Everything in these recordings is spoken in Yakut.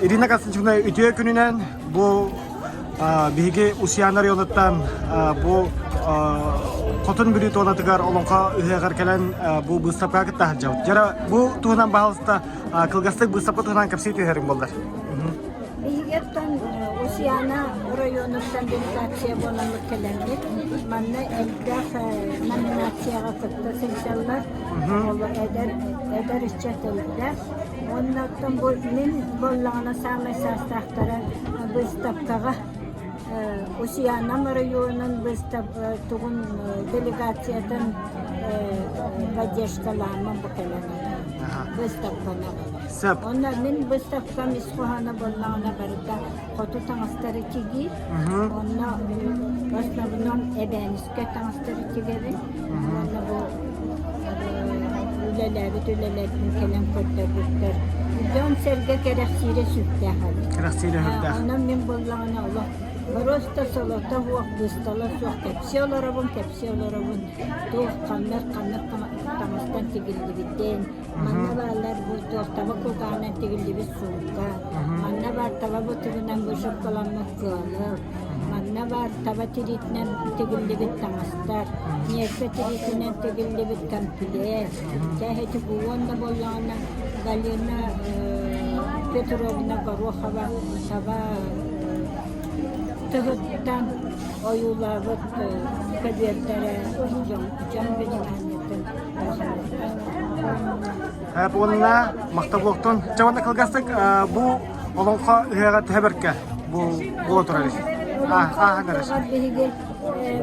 Ирина Константиновна үтүө күнүнэн бу биһиги Усьян районуттан бу хотун бүлүү туонатыгар Олоҥхо ыһыаҕар кэлэн бу быыстапкаҕа кытта сылдьабыт. Дьара бу туһунан баҕалыста кылгастык быыстапка туһунан кэпсии түһэриҥ боллар. Биһигиттэн Усьяна оройуонуттан делегация буоламмыт кэлэммит. Манна элбэх номинацияҕа кытта сылдьаллар. Ол эдэр, эдэр ыччат элбэх. Уонна оттон бу мин буоллаҕына саамай саастаахтара быыстапкаҕа Усьянам оройуонун быстап тугун делегациятын поддержкалааммын бу кэлэн быыстапканы. Сөп. Онно мин быыстапкам ис хоһооно буоллаҕына барыта хоту таҥастары тигии, онно основном эбээнискэ таҥастары тигэбин уонна бу үлэлээбит үлэлэрин кэлэн көрдөрбүттэр. Дьон-сэргэ кэрэхсиирэ сүрдээх эбит. Кэрэхсиирэ сүрдээх. Онон мин буоллаҕына олох Бороста солото суох, быстала суох, кэпсэ олоробун, кэпсэ олоробун. Туох ханнар ханнар таҥастан тигиллибитин, Манна бааллар бу туохтаба кулгаанан тигиллибит суукка. Манна баар таба бытыгынан бышыккаламмыт кыалыр. Манна баар таба тириитинэн тигиллибит таҥастар. Ньиэппэ тириитинэн тигиллибит конфлект. Дээһити буонна боллаҕына Галина Петровна Горохова таба тыһыттан ойуулаабыт кэбиэрдэрэ дьон билиҥ Буонна махтабылоктон чабанна кылгастык бу олоҥхо ыһыаҕа тыһа бэркэ бу буола турар ааһагарыш биһиги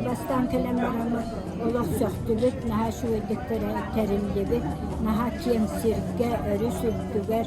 бастаан кэлэмнэрэммит олох сөхтүбүт наһаа үчүгэйдик тэриллибит наһаа киэҥ сиргэ өрүс үрдүгэр